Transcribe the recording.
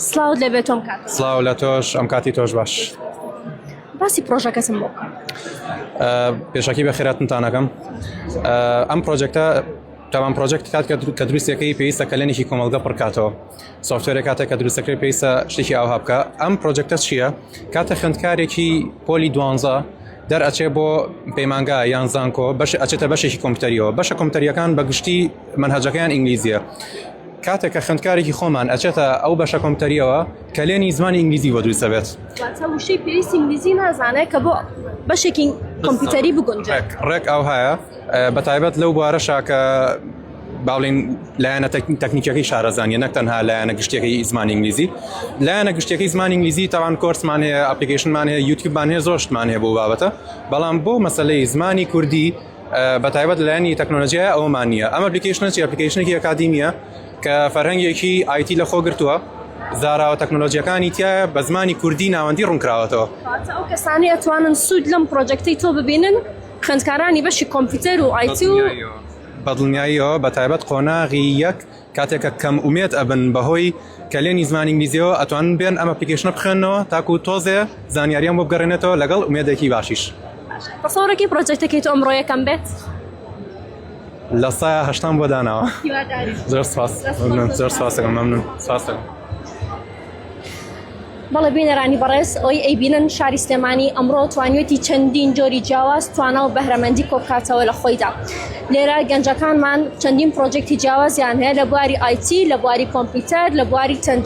سڵاوت لێ بێت تۆم کاک سڵاو لە تۆش ئەم کاتی تۆش باش باسی پرۆژەکەسم بۆ پێشکی بە خێراتنتانەکەم ئەم پرۆژێکتە تاوان پرۆژێکت کات کە دروستەکەی پێویستە کەلێنێکی کۆمەلگە پڕکاتەوە سوفتێرە کاتە کە دروستەکەی پێویستە شتێکی ئاها بکە ئەم پرۆژێکتە چییە کاتە خوێندکارێکی پۆلی دوانزە دەرئەچێ بۆ پەیمانگا یان زانکۆ بەش ئەچێتە بەشێکی کۆمپتەریەوە بەشە کۆمپتەریەکان بە گشتی منهجەکەیان ئینگلیزیە کاتێک کە خوێندکارێکی خۆمان ئەچێتە ئەو بەشە کۆمپتەریەوە کەلێنی زمانی ئینگلیزی بۆ دروست دەبێت وشەی پێویستی ئینگلیزی نازانێت کە بۆ بەشێکی کۆمپیوتەری بگونج ڕێک ئەو هەیە بە تایبەت لەو بوارە شاکە باڵین لایەنە تەکنیکەکەی شارەزانانی نەک تەنها لایەنە گشتەکەی زمان ئینگلیزی لایەنە گشتەکەی زمان ئینگلیزی تاوان کۆرسمان هەیە ئەپلیکیشنمان هەیە یوتیوبمان هەیە زۆشتمان هەیە بۆ بابەتە بەڵام بۆ مەسلەی زمانی کوردی بەتایبەت لایەنی تەکنۆلۆژیای ئەومان نییە ئەم ئەپلیکیشنە چی ئەپلیکیشنێکی ئەکادیمیە کە فەرهەنگێکی ئایتی لە خۆ گرتووە زاراوە تەکنۆلۆژیەکانی تایە بە زمانی کوردی ناوەندی ڕوونکراوەتەوە ئەو کەسانی ئەتوانن سوود لەم پرۆجەکتی تۆ ببینن خوێندکارانی بەشی کۆمپیوتەر و ئایتی و بەدڵنیاییەوە بە تایبەت قۆناغی یەک کاتێک کە کەم ئومێد ئەبن بەهۆی کەلێنی زمانی ئینگلیزیەوە ئەتوانن بێن ئەم ئەپلیکەیشنە بخوێننەوە تاکوو تۆزێ زانیاریان بۆ بگەڕێنێتەوە لەگەڵ ئومێدێکی باشیش. تەسەوڕێکی پڕۆجێکتەکەی تۆ ئەمڕۆ یەکەم بێت؟ لە سایە هەشتان بۆ داناوە هیوادارین. زۆر سپاس زۆر سپاس دەکەم مەمنون سپاس دەکەم. بەڵێ بینەرانی بەڕێز ئەوەی ئەیبینن شاری سلێمانی ئەمڕۆ توانیوێتی چەندین جۆری جیاواز توانا و بەهرەمەندی کۆبکاتەوە لە خۆیدا لێرە گەنجەکانمان چەندین پرۆجێکتی جیاوازیان هەیە لە بواری ئایتی لە بواری کۆمپیوتەر لە بواری تەندروستی